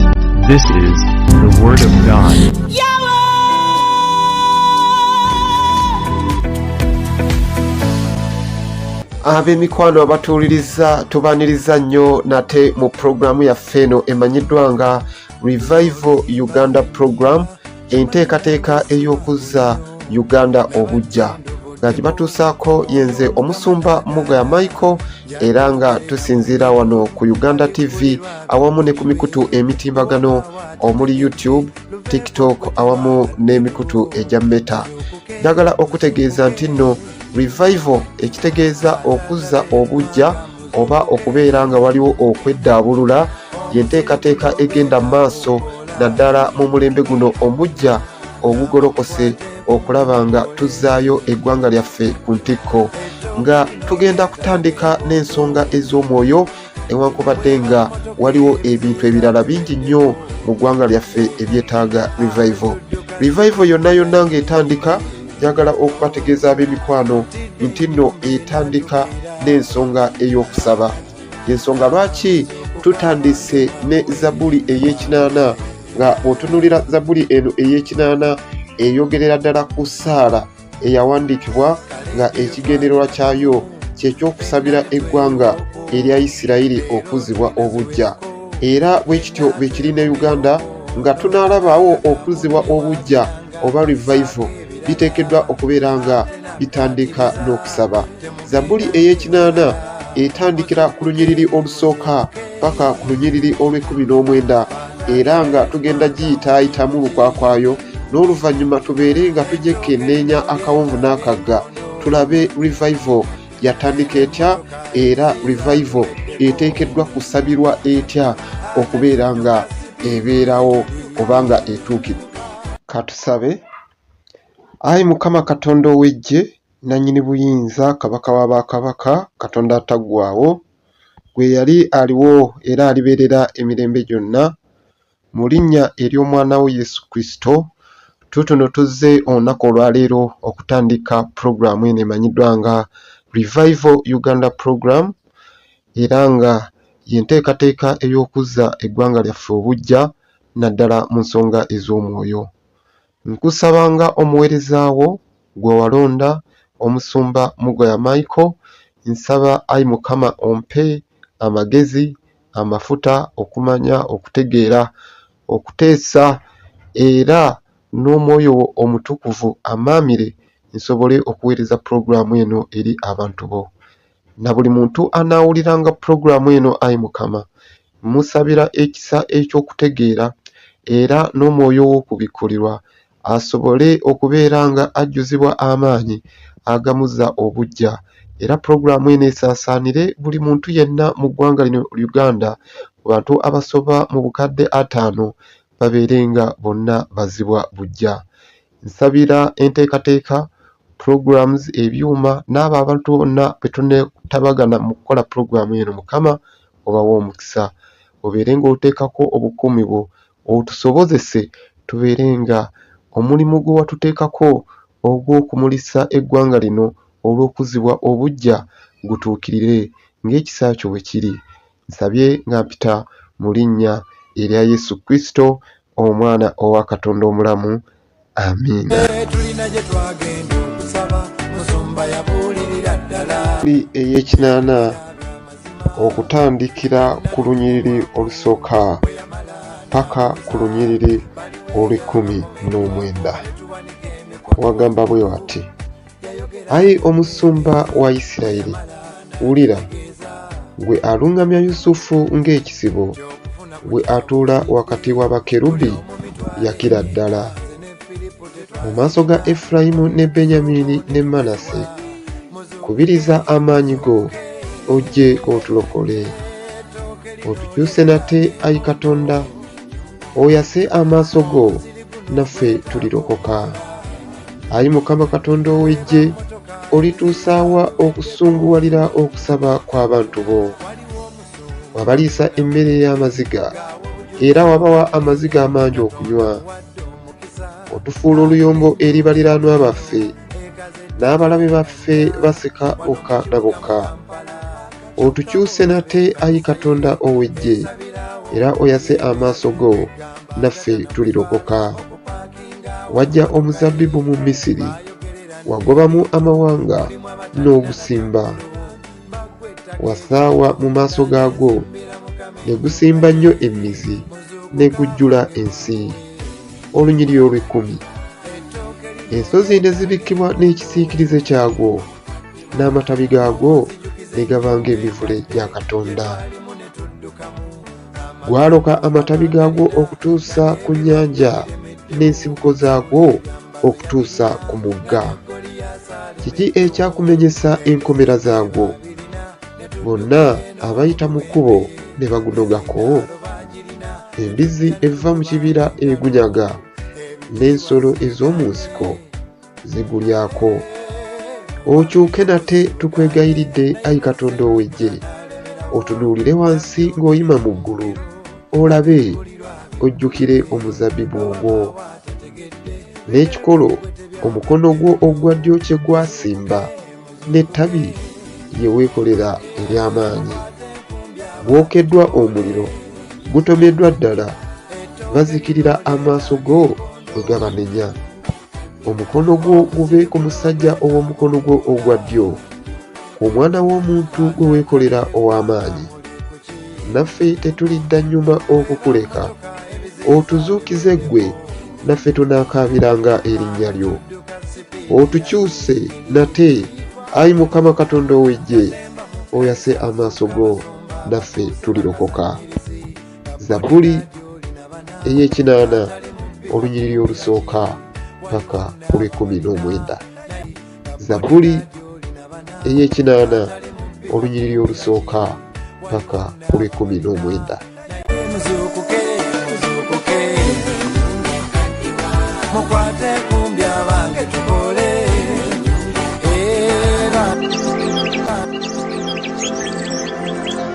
This is the Word of God. ab'emikwano abatuwuliriza tubaniriza nnyo nate mu pulogulaamu yaffe eno emanyiddwa nga revival uganda program enteekateeka ey'okuzza uganda obujja nga kibatuusaako yenze omusumba mugaya michael era nga tusinziira wano ku uganda tv awamu ne ku mikutu emitimbagano omuli youtube tiktok awamu n'emikutu egya meta njagala okutegeeza nti nno revival ekitegeeza okuzza obujja oba okubeera nga waliwo okweddaabulula yenteekateeka egenda mu maaso naddala mu mulembe guno omujja ogugolokose okulaba nga tuzzaayo eggwanga lyaffe ku ntikko nga tugenda kutandika n'ensonga ez'omwoyo newankubadde nga waliwo ebintu ebirala bingi nnyo mu ggwanga lyaffe ebyetaaga revival revival yonna yonna ng'etandika njagala okubategeeza ab'emikwano nti nno etandika n'ensonga ey'okusaba ensonga lwaki tutandise ne zabuli ey'ekinaana nga otunulira zabuli eno ey'ekinaana eyogerera ddala ku saala eyawandiikibwa nga ekigendererwa kyayo kyekyokusabira eggwanga erya isirayiri okuzibwa obujja era bwe kityo bwe kiri ne uganda nga tunaalabaawo okuzibwa obujja oba revival biteekeddwa okubeera nga bitandika n'okusaba zabbuli ey'ekinaana etandikira ku lunyiriri olusooka paka ku lunyiriri olw'ekkumi n'omwenda era nga tugenda giyitaayitamu lukwakwayo n'oluvannyuma tubeere nga tujekkenneenya akawonvu n'akagga tulabe revival yatandika etya era revival eteekeddwa kusabirwa etya okubeera nga ebeerawo obanga etuukidde katusabe ayi mukama katonda ow'eggye nannyini buyinza kabaka wa bakabaka katonda ataggwawo gwe yali aliwo era alibeerera emirembe gyonna Mu linnya ery'omwana wo Yesu Kristo, tutuno tuzze olunaku olwaleero okutandika pulogulaamu eno emanyiddwa nga Revival Uganda Program era nga yenteekateeka ey'okuzza eggwanga lyaffe obuggya naddala mu nsonga ez'omwoyo. Nkusaba nga omuweereza wo gwe walonda, Omusumba Mugoya Michael, nsaba ayi Mukama ompe amagezi, amafuta, okumanya, okutegeera, okuteesa era n'Omwoyo wo Omutukuvu ammaamire nsobole okuweereza pulogulaamu eno eri abantu bo. na buli muntu anaawuliranga pulogulaamu eno, ayi Mukama, mmusabira ekisa eky'okutegeera era n'omwoyo w'okubikkulirwa asobole okubeera nga ajjuzibwa amaanyi agamuzza obuggya era pulogulaamu eno esaasaanire buli muntu yenna mu ggwanga lino Uganda ku bantu abasoba mu bukadde ataano babeere nga bonna bazibwa buggya. Nsabira enteekateeka, programs, ebyuma n'abo abantu bonna be tuneetabagana mu kukola pulogulaamu eno, Mukama obawe omukisa. Obeere ng'oteekako obukuumi bwo, otusobozese tubeere nga omulimu gwe watuteekako ogw'okumulisa eggwanga lino olw'okuzzibwa obuggya gutuukirire ng'ekisa kyo bwe kiri. Nsabye nga mpita mu linnya erya Yesu Kristo, omwana owa katonda omulamu amiina eyekinaana okutandikira ku lunyiriri olusooka paka ku lunyiriri olwekumi n'omwenda wagamba bwe wati Ayi omusumba wa Isirayiri, wulira, gwe aluŋŋamya Yusufu ng'ekisibo, gwe atuula wakati wa bakerubi, yakira ddala. Mu maaso ga Efurayimu ne Benyamiini ne Manase, kubiriza amaanyi go, ojje otulokole. Otukyuse nate, ayi Katonda, oyase amaaso go, naffe tulirokoka. Ayi Mukama Katonda ow'eggye, olituusaawa okusunguwalira okusaba kw'abantu bo? Wabaliisa emmere ey'amaziga, era wabawa amaziga amangi okunywa. Otufuula oluyombo eri baliraanwa baffe, n'abalabe baffe basika bokka na bokka. Otukyuse nate, ayi Katonda ow'eggye, era oyase amaaso go, naffe tulirokoka. wajja omuzabbibu mu misiri wagobamu amawanga n'ogusimba wasaawa mu maaso gaagwo ne gusimba nnyo emmizi ne gujjula ensi olunyiriri olw'ekkumi ensozi ne zibikkibwa n'ekisiikirize kyagwo n'amatabi gaagwo ne gaba ng'emivule gya katonda gwaloka amatabi gaagwo okutuusa ku nnyanja n'ensibuko zaagwo okutuusa ku mugga kiki ekyakumenyesa enkomera zaagwo bonna abayita mu kkubo ne bagunogako embizzi eva mu kibira egunyaga n'ensolo ez'omu nsiko zigulyako okyuke nate tukwegayiridde ayi katonda ow'eggye otunuulire wansi ng'oyima mu ggulu olabe ojjukire omuzabbibu ogwo n'ekikolo omukono gwo ogwa ddyo kye gwasimba n'ettabi lye weekolera ery'amaanyi gwokeddwa omuliro gutomeddwa ddala bazikirira amaaso go bwe gabanenya omukono gwo gube ku musajja ow'omukono gwo ogwa ddyo omwana w'omuntu gwe weekolera ow'amaanyi naffe tetulidda nnyuma okukuleka otuzuukize ggwe naffe tunaakaabiranga erinnya lyo otukyuse nate ayi mukama katonda ow'eggye oyase amaaso go naffe tulirokoka Zabuli ey'ekinaana olunyiriri olusooka paka olw'ekkumi n'omwenda. Zabuli ey'ekinaana olunyiriri olusooka paka olw'ekkumi n'omwenda.